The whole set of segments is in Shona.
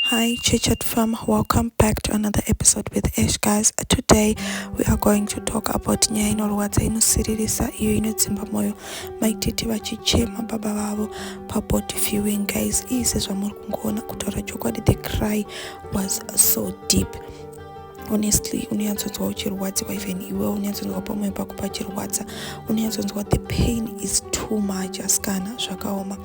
Hi Chichat fam, welcome back to another episode with Ash guys. Today we are going to talk about nyaya inorwadza inosiririsa iyo inodzimba moyo mai tete vachichema baba vavo pabody viewing guys iyi sezvamuri kungoona kutaura chokwadi the cry was so deep honestly unonyatsonzwa uchirwadziwa even iwe unonyatsonzwa pamwe pako pachirwadza unonyatsonzwa the pain is too much asikana zvakaoma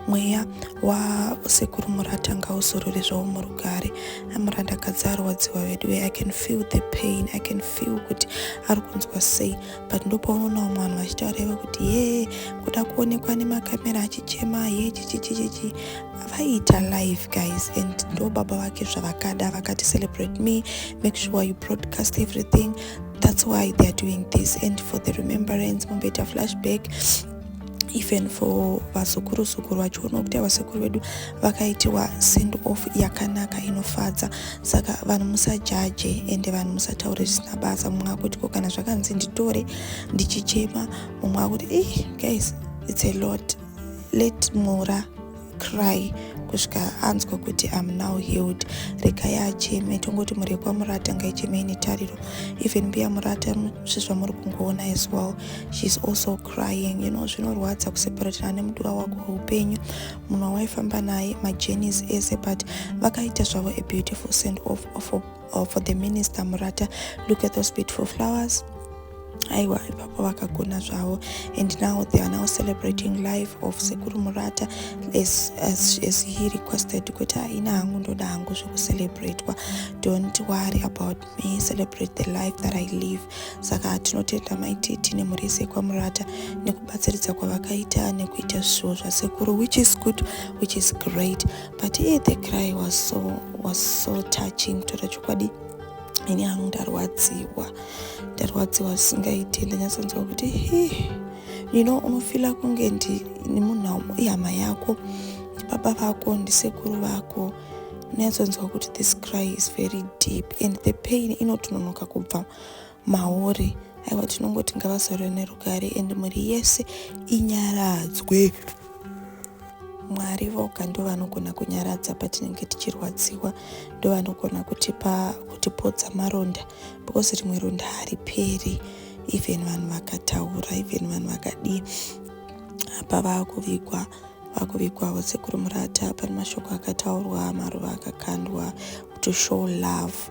mweya wasekuru murata ngauzorore zvavo murugare amurandakadzi arwadziwa vedu ve i can feel the pain i can feel kuti ari kunzwa sei but ndopaunoona vamwe vanhu vachitaura ive kuti yee kuda kuonekwa nemakamera achichema yee chichichichichi vaiita live guys and ndo baba vake zvavakada vakati celebrate me make sure you broadcast everything that's why theyare doing this and for the remembrance mumboita flashback even for vazukuru zukuru vachiona kuti avasekuru vedu vakaitiwa send off yakanaka inofadza saka vanhu musajaje ende vanhu musataure zvisina basa mumwe akuti ko kana zvakanzi nditore ndichichema mumwe akuti e guys its a lot let mura cry kusvika anzwa kuti am now healed regai acheme tongoti mhuri yekwamura atanga icheme ine tariro even mbiya murata sezvamuri kungoona as well sheis also crying you know zvinorwadza kuseparatana nemudiwa wako weupenyu munhu wawaifamba naye majenis ese but vakaita zvavo a beautiful send off for or for the minister murata look at those beautiful flowers aiwa ipapo vakagona zvavo and now they are now celebrating life of sekuru murata as, as, as he requested kuti haina hangu ndoda hangu zvekucelebratwa don't worry about me celebrate the life that i live saka tinotenda maititi nemhuri yese yekwamurata nekubatsiridza kwavakaita nekuita zvishuwo zvasekuru which is good which is great but iye the cry was so, was so touching kutaura chokwadi ini hangu ndarwadziwa ndarwadziwa zvisingaiti ndanyatsonzwa kuti he you know unofila kunge ndi munhu ihama yako ndibaba vako ndisekuru vako unyatsonzwa kuti this cry is very deep and the pain inotononoka kubva mauri aiwa tinongoti ngavazorwe nerugare and mhuri yese inyaradzwe mwari voga ndovanogona kunyaradza patinenge tichirwadziwa ndovanogona kutipa kutipodza maronda because rimwe ronda hariperi even vanhu vakataura even vanhu vakadii apa vakuvigwa vakuvigwavo sekuru murata pane mashoko akataurwa maruva akakandwa to show love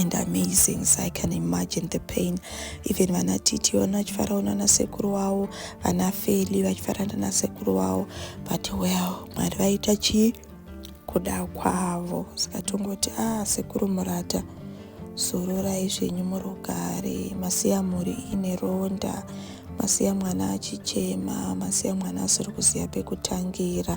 and amazing so i can imagine the pain even vana titi vana vachifaraona nasekuru wavo vana feli vachifarana nasekuru wavo but well mwari vaita chii kuda kwavo saka tongoti ah sekuru murata zororai zvenyu murugare masiya mhuri ine ronda masiya mwana achichema masiya mwana asiri kuziva pekutangira